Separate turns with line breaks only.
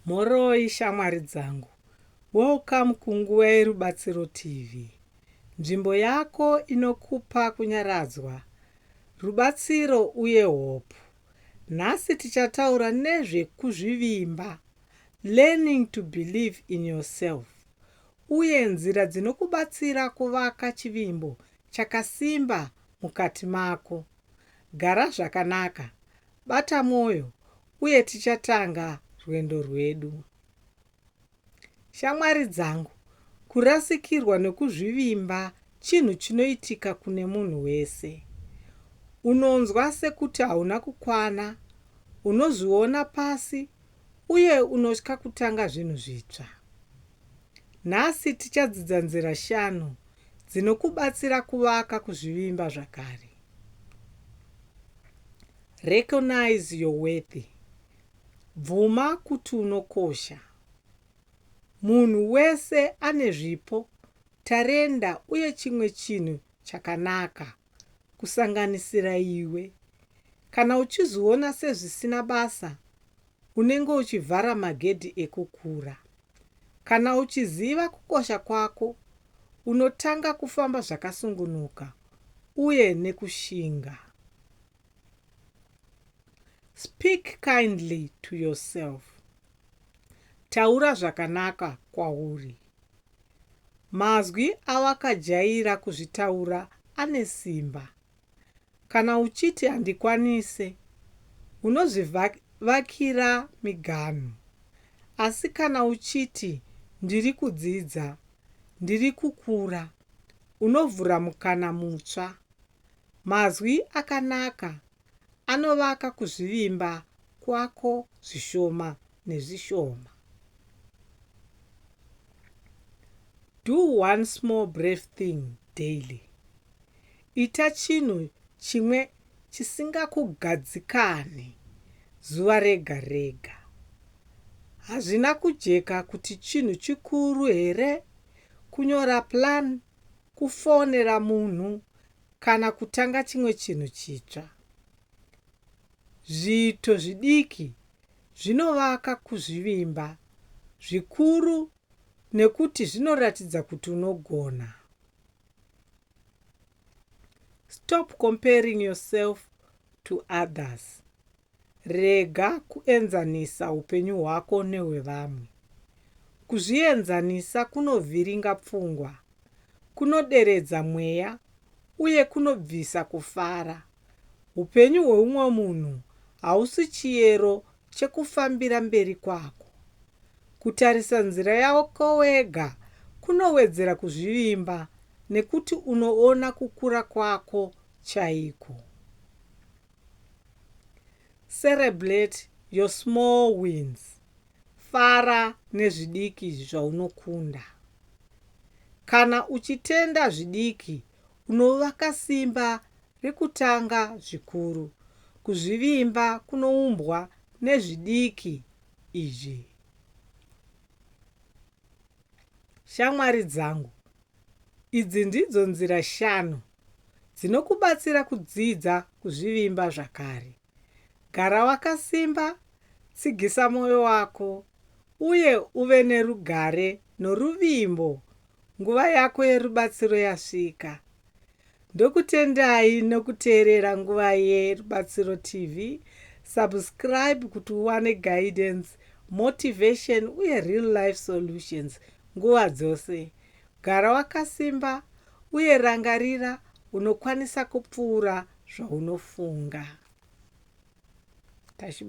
Mhoroi shamwari dzangu, welcome kuNguva yeRubatsiro TV, nzvimbo yako inokupa kunyaradzwa, rubatsiro uye hope. Nhasi tichataura nezve kuzvivimba, learning to believe in yourself, uye nzira dzinokubatsira kuvaka chivimbo chakasimba mukati mako. Gara zvakanaka, Bata mwoyo uye tichatanga rwendo rwedu. Shamwari dzangu, kurasikirwa nokuzvivimba chinhu chinoitika kune munhu wese. Unonzwa sekuti hauna kukwana, unozviona pasi, uye unotya kutanga zvinhu zvitsva. Nhasi tichadzidza nzira shanu dzinokubatsira kuvaka kuzvivimba zvakare. Recognize your worth. Bvuma kuti unokosha. Munhu wese ane zvipo, tarenda uye chimwe chinhu chakanaka, kusanganisira iwe. Kana uchizviona sezvisina basa, unenge uchivhara magedhi ekukura. Kana uchiziva kukosha kwako, unotanga kufamba zvakasungunuka uye nekushinga. Speak kindly to yourself. Taura zvakanaka kwauri. Mazwi awakajaira kuzvitaura ane simba Kana uchiti handikwanise unozvivakira miganhu asi kana uchiti ndiri kudzidza, ndiri kukura unovhura mukana mutsva. Mazwi akanaka anovaka kuzvivimba kwako zvishoma nezvishoma. Do one small brave thing daily. Ita chinhu chimwe chisingakugadzikane zuva rega rega. Hazvina kujeka kuti chinhu chikuru here kunyora plan, kufonera munhu kana kutanga chimwe chinhu chitsva. Zviito zvidiki zvinovaka kuzvivimba zvikuru nekuti zvinoratidza kuti unogona. Stop comparing yourself to others. Rega kuenzanisa upenyu hwako nehwevamwe. Kuzvienzanisa kunovhiringa pfungwa, kunoderedza mweya uye kunobvisa kufara. Upenyu hweumwe munhu hausi chiyero chekufambira mberi kwako. Kutarisa nzira yako wega kunowedzera kuzvivimba nekuti unoona kukura kwako chaiko. Cerebrate your small wins. Fara nezvidiki zvaunokunda. Kana uchitenda zvidiki, unovaka simba rekutanga zvikuru. Kuzvivimba kunoumbwa nezvidiki izvi shamwari dzangu. Idzi ndidzo nzira shanu dzinokubatsira kudzidza kuzvivimba zvakare. Gara wakasimba, tsigisa mwoyo wako, uye uve nerugare noruvimbo Nguva yako yerubatsiro yasvika. Ndokutendai nokuteerera Nguva yeRubatsiro TV. Subscribe kuti uwane guidance, motivation uye real life solutions nguva dzose. Gara wakasimba uye rangarira unokwanisa kupfuura zvaunofunga.